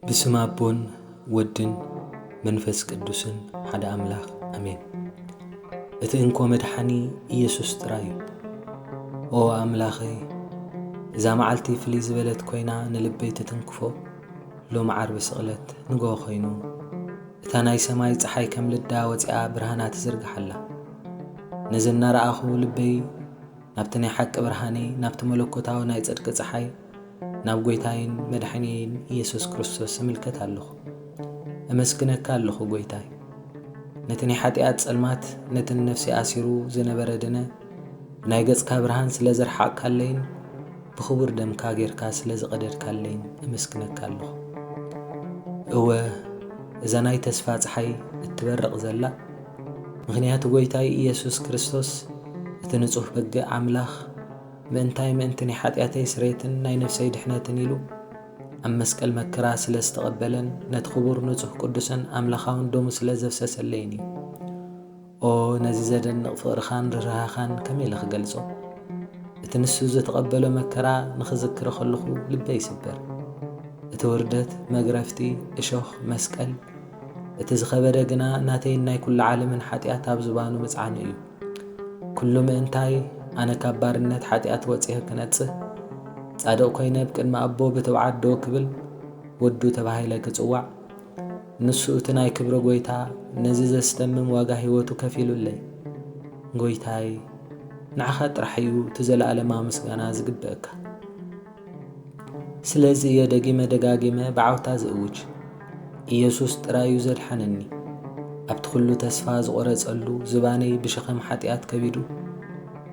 ብስም ኣቦን ወድን መንፈስ ቅዱስን ሓደ ኣምላኽ ኣሜን። እቲ እንኮ መድሓኒ ኢየሱስ ጥራይ እዩ። ኦ ኣምላኸይ እዛ መዓልቲ ፍልይ ዝበለት ኮይና ንልበይ ትትንክፎ ሎሚ ዓርቢ ስቕለት ንግሆ ኮይኑ እታ ናይ ሰማይ ፀሓይ ከም ልዳ ወፂኣ ብርሃና ትዝርግሓላ ነዚ እናረኣኹ ልበይ ናብቲ ናይ ሓቂ ብርሃነይ፣ ናብቲ መለኮታዊ ናይ ጽድቂ ጸሓይ፣ ናብ ጐይታይን መድሕንየይን ኢየሱስ ክርስቶስ እምልከት ኣለኹ። እመስግነካ ኣለኹ ጐይታይ። ነቲ ናይ ሓጢኣት ጸልማት ነቲ ንነፍሰይ ኣሲሩ ዝነበረ ድነ ብናይ ገጽካ ብርሃን ስለ ዘርሓቕካለይን ብኽቡር ደምካ ጌርካ ስለ ዝቐደድካለይን እመስግነካ ኣለኹ። እወ እዛ ናይ ተስፋ ጸሓይ እትበርቕ ዘላ፣ ምኽንያቱ ጎይታይ ኢየሱስ ክርስቶስ እቲ ንጹህ በግዕ ኣምላኽ ምእንታይ ምእንቲ ናይ ሓጢኣተይ ስሬትን ናይ ነፍሰይ ድሕነትን ኢሉ ኣብ መስቀል መከራ ስለ ዝተቐበለን ነቲ ክቡር ንጹህ ቅዱስን ኣምላኻውን ደሙ ስለ ዘፍሰሰለይን እዩ። ኦ ነዚ ዘደንቕ ፍቕርኻን ርህራሀኻን ከመይ ኢለ ክገልጾ! እቲ ንሱ ዝተቐበሎ መከራ ንኽዝክር ከለኹ ልበይ ይስበር። እቲ ውርደት፣ መግረፍቲ፣ እሾኽ፣ መስቀል፣ እቲ ዝኸበደ ግና ናተይን ናይ ኩሉ ዓለምን ሓጢኣት ኣብ ዝባኑ ምጽዓኑ እዩ። ኩሉ ምእንታይ ኣነ ካብ ባርነት ሓጢኣት ወጺኸ ክነጽህ፣ ጻድቕ ኮይነ ብ ቅድሚ ኣቦ ብትብዓት ደው ክብል፣ ወዱ ተባሂለ ክጽዋዕ፣ ንሱ እቲ ናይ ክብሪ ጎይታ ነዚ ዘስተምም ዋጋ ሕይወቱ ከፊሉለይ። ጎይታይ! ንዓኻ ጥራሕ እዩ እቲ ዘለኣለማዊ ምስጋና ዝግበእካ። ስለዚ እየ ደጊመ ደጋጊመ ብዓውታ ዝእውጅ፣ ኢየሱስ ጥራይ እዩ ዘድሓነኒ። ኣብቲ ኹሉ ተስፋ ዝቖረጸሉ ዝባነይ ብሸኸም ሓጢኣት ከቢዱ፣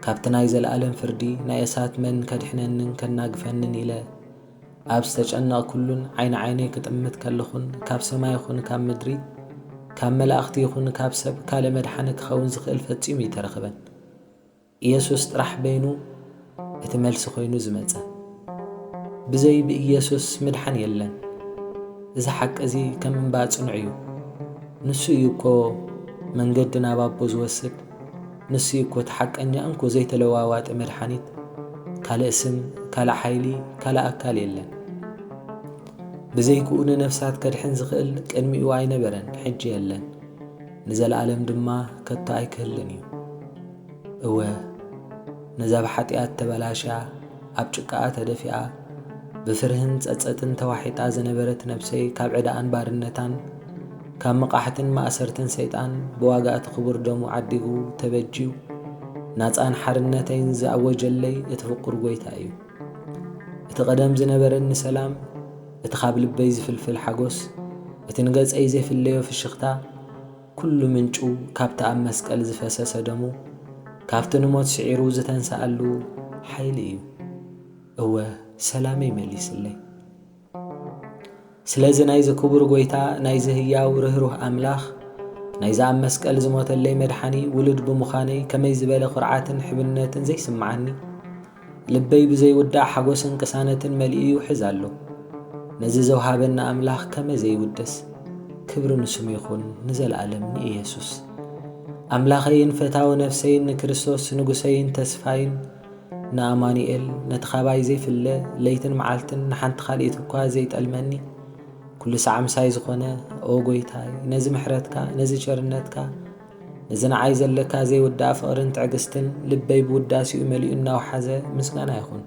ካብቲ ናይ ዘለኣለም ፍርዲ ናይ እሳት መን ከድሕነንን ከናግፈንን ኢለ ኣብ ዝተጨነቕኩሉን ዓይኒ ዓይነይ ክጥምት ከለኹን ካብ ሰማይ ይኹን ካብ ምድሪ ካብ መላእኽቲ ይኹን ካብ ሰብ ካልእ መድሓኒ ክኸውን ዝኽእል ፈጺሙ እይተረኽበን። ኢየሱስ ጥራሕ በይኑ እቲ መልሲ ኮይኑ ዝመጸ። ብዘይ ብኢየሱስ ምድሓን የለን። እዚ ሓቂ እዚ ከም እምባ ጽኑዕ እዩ። ንሱ እዩ እኮ መንገዲ ናብ ኣቦ ዝወስድ፣ ንሱ እዩ እኮ እቲ ሓቀኛ እንኮ ዘይተለዋዋጢ መድሓኒት። ካልእ ስም፣ ካልእ ሓይሊ፣ ካልእ ኣካል የለን። ብዘይክኡ ንነፍሳት ከድሕን ዝኽእል ቅድሚኡ ኣይነበረን ሕጂ የለን ንዘለኣለም ድማ ከቶ ኣይክህልን እዩ። እወ፣ ነዛ ብሓጢኣት ተበላሽያ፣ ኣብ ጭቃኣ ተደፊኣ፣ ብፍርህን ጸጸትን ተዋሒጣ ዝነበረት ነብሰይ ካብ ዕዳኣን ባርነታን፣ ካብ መቓሕትን ማእሰርትን ሰይጣን ብዋጋ እቲ ክቡር ደሙ ዓዲጉ ተበጅዩ ናጻን ሓርነተይን ዝኣወጀለይ እቲ ፍቑር ጐይታ እዩ። እቲ ቀደም ዝነበረኒ ሰላም፣ እቲ ካብ ልበይ ዝፍልፍል ሓጐስ፣ እቲ ንገጸይ ዘይፍለዮ ፍሽኽታ፣ ኩሉ ምንጩ ካብቲ ኣብ መስቀል ዝፈሰሰ ደሙ፣ ካብቲ ንሞት ስዒሩ ዝተንስኣሉ ሓይሊ እዩ። እወ ሰላመይ መሊስለይ። ስለዚ ናይዚ ክቡር ጐይታ፣ ናይዚ ህያው ርህሩህ ኣምላኽ፣ ናይዚ ኣብ መስቀል ዝሞተለይ መድሓኒ ውሉድ ብምዃነይ ከመይ ዝበለ ኩርዓትን ሕብነትን ዘይስምዓኒ! ልበይ ብዘይውዳእ ሓጎስን ቅሳነትን መሊኡ ይውሕዝ ኣሎ። ነዚ ዘውሃበኒ ኣምላኽ ከመይ ዘይውደስ። ክብሪ ንስሙ ይኹን ንዘልኣለም ንኢየሱስ። ኣምላኸይን ፈታዊ ነፍሰይን ንክርስቶስ ንጉሰይን ተስፋይን ንኣማኑኤል ነቲ ካባይ ዘይፍለ ለይትን መዓልትን ንሓንቲ ካልኢት እኳ ዘይጠልመኒ ኩሉ ሳዕ ምሳይ ዝኾነ ኦ ጎይታይ ነዚ ምሕረትካ ነዚ ቸርነትካ እዚ ንዓይ ዘለካ ዘይውዳእ ፍቕርን ትዕግስትን ልበይ ብውዳሴኡ መሊኡ እናውሓዘ ምስጋና ይኹን።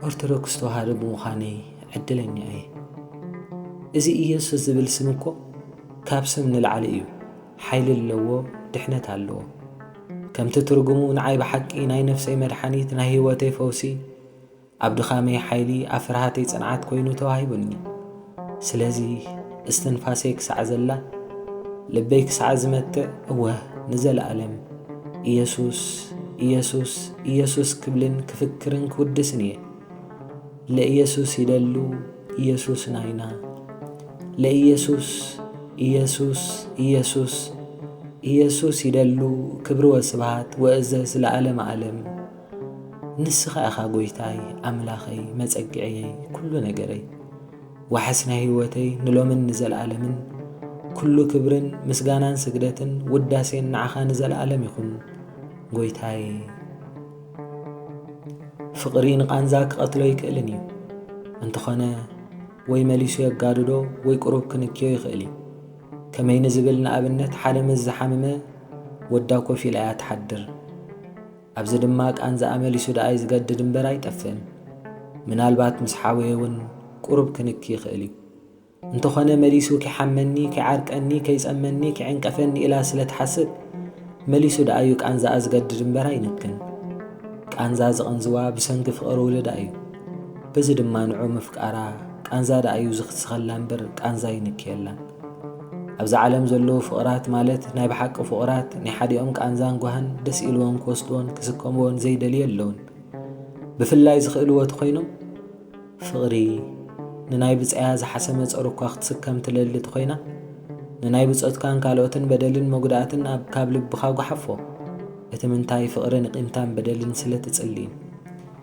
ኦርቶዶክስ ተዋህዶ ብምዃነይ ዕድለኛ እየ። እዚ ኢየሱስ ዝብል ስም እኮ ካብ ስም ንላዕሊ እዩ። ሓይሊ ኣለዎ፣ ድሕነት ኣለዎ። ከምቲ ትርጉሙ ንዓይ ብሓቂ ናይ ነፍሰይ መድሓኒት፣ ናይ ህይወተይ ፈውሲ፣ ኣብ ድኻመይ ሓይሊ ኣብ ፍርሃተይ ጽንዓት ኮይኑ ተዋሂቡኒ። ስለዚ እስትንፋሰይ ክሳዕ ዘላ ልበይ ክሳዕ ዝመትዕ እወ ንዘለኣለም ኢየሱስ ኢየሱስ ኢየሱስ ክብልን ክፍክርን ክውድስን እየ። ለኢየሱስ ይደሉ ኢየሱስ ናይና ለኢየሱስ ኢየሱስ ኢየሱስ ኢየሱስ ይደሉ ክብሪ ወስብሃት ወእዘዝ ለዓለመ ዓለም። ንስኻ ኢኻ ጎይታይ ኣምላኸይ መጸግዕየይ ኩሉ ነገረይ ዋሕስ ናይ ህይወተይ ንሎምን ንዘልኣለምን ኩሉ ክብርን ምስጋናን ስግደትን ውዳሴን ንዓኻ ንዘልኣለም ይኹን ጎይታይ ፍቕሪ ንቓንዛ ክቐትሎ ይክእልን እዩ እንተኾነ ወይ መሊሱ የጋድዶ ወይ ቁሩብ ክንክዮ ይኽእል እዩ ከመይ ንዝብል ንኣብነት ሓደ ምስ ዝሓመመ ወዳ ኮፍ ኢላ እያ ትሓድር ኣብዚ ድማ ቃንዝኣ መሊሱ ደኣይ ዝገድድ እምበር ኣይጠፍእን። ምናልባት ምስ ሓወየ እውን ቁሩብ ክንኪ ይኽእል እዩ። እንተኾነ መሊሱ ኪሓመኒ፣ ኪዓርቀኒ፣ ከይጸመኒ፣ ኪዕንቀፈኒ ኢላ ስለ ትሓስብ መሊሱ ደኣዩ ቃንዝኣ ዝገድድ እምበር ኣይንክን። ቃንዛ ዝቕንዝዋ ብሰንኪ ፍቕሪ ውልዳ እዩ። በዚ ድማ ንዑ ምፍቃራ ቃንዛ ደኣዩ ዝክስኸላ እምበር ቃንዛ ኣይንክየላን። ኣብዛ ዓለም ዘለዉ ፍቕራት ማለት ናይ ብሓቂ ፍቑራት ናይ ሓዲኦም ቃንዛን ጓህን ደስ ኢልዎም ክወስድዎን ክስከምዎን ዘይደልዩ ኣለውን ብፍላይ ዝኽእልዎ ተኾይኖም ፍቕሪ ንናይ ብጻያ ዝሓሰመ ጸሩ እኳ ክትስከም ትለሊ ተኾይና ንናይ ብጾትካን ካልኦትን በደልን መጉዳእትን ኣብ ካብ ልብኻ ጓሓፎ እቲ ምንታይ ፍቕርን ቂምታን በደልን ስለ ትጽልዩ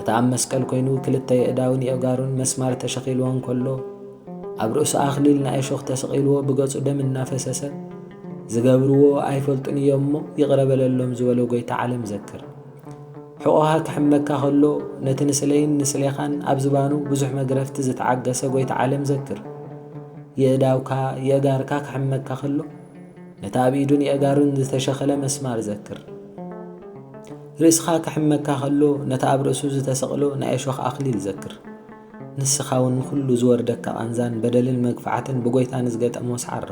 እቲ ኣብ መስቀል ኮይኑ ክልተ የእዳውን የእጋሩን መስማር ተሸኺልዎ እንከሎ ኣብ ርእሱ ኣኽሊል ናይ እሾኽ ተሰቒልዎ ብገጹ ደም እናፈሰሰ ዝገብርዎ ኣይፈልጡን እዮም እሞ ይቕረ በለሎም ዝበሎ ጐይታ ዓለም ዘክር። ሕቖኻ ክሕመካ ከሎ ነቲ ንስለይን ንስሌኻን ኣብ ዝባኑ ብዙሕ መግረፍቲ ዝተዓገሰ ጐይታ ዓለም ዘክር። የእዳውካ የእጋርካ ክሕመካ ከሎ ነቲ ኣብ ኢዱን የእጋሩን ዝተሸኸለ መስማር ዘክር። ርእስኻ ክሕመካ ከሎ ነቲ ኣብ ርእሱ ዝተሰቕሎ ናይ እሾኽ ኣኽሊል ዘክር። ንስኻውን ንዅሉ ዝወርደካ ቃንዛን በደልን መግፋዕትን ብጐይታ ንዝገጠሞ ሰዓሮ።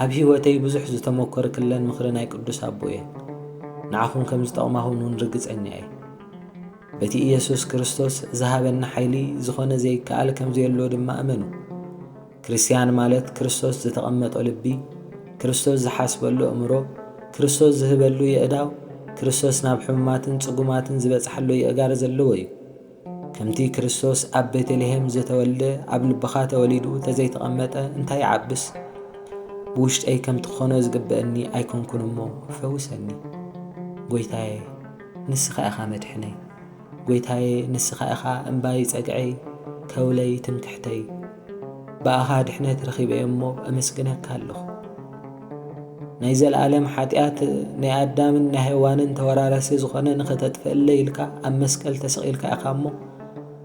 ኣብ ህይወተይ ብዙሕ ዝተመኰርክለን ምኽሪ ናይ ቅዱስ ኣቦ እየን። ንዓኹም ከም ዝጠቕማኹን እውን ርግጸኛ እየ። በቲ ኢየሱስ ክርስቶስ ዝሃበኒ ሓይሊ ዝዀነ ዘይከኣል ከም ዘየሎ ድማ እመኑ። ክርስትያን ማለት ክርስቶስ ዝተቐመጦ ልቢ፣ ክርስቶስ ዝሓስበሉ ኣእምሮ፣ ክርስቶስ ዝህበሉ የእዳው፣ ክርስቶስ ናብ ሕሙማትን ጽጉማትን ዝበጽሓሉ የእጋር ዘለዎ እዩ። ከምቲ ክርስቶስ ኣብ ቤተልሔም ዘተወልደ ኣብ ልብኻ ተወሊዱ ተዘይተቐመጠ እንታይ ይዓብስ? ብውሽጠይ ከምቲ ክኾኖ ዝግበአኒ ኣይኮንኩን እሞ ፈውሰኒ። ጐይታየ ንስኻ ኢኻ መድሕነይ፣ ጐይታየ ንስኻ ኢኻ እምባይ ጸግዐይ ከውለይ ትምክሕተይ። ብኣኻ ድሕነት ረኺበ እሞ ኣመስግነካ ኣለኹ። ናይ ዘለኣለም ሓጢኣት ናይ ኣዳምን ናይ ሄዋንን ተወራረሲ ዝኾነ ንኸተጥፍእለይ ኢልካ ኣብ መስቀል ተሰቒልካ ኢኻ እሞ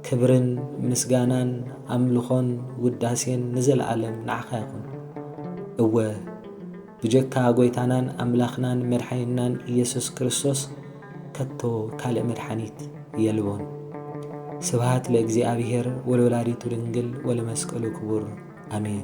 ክብርን ምስጋናን ኣምልኾን ውዳሴን ንዘለኣለም ንዓኻ ይኹን። እወ ብጀካ ጎይታናን ኣምላኽናን መድሓኒትናን ኢየሱስ ክርስቶስ ከቶ ካልእ መድሓኒት የልቦን። ስብሃት ለእግዚኣብሔር ወለወላዲቱ ድንግል ወለመስቀሉ ክቡር ኣሜን።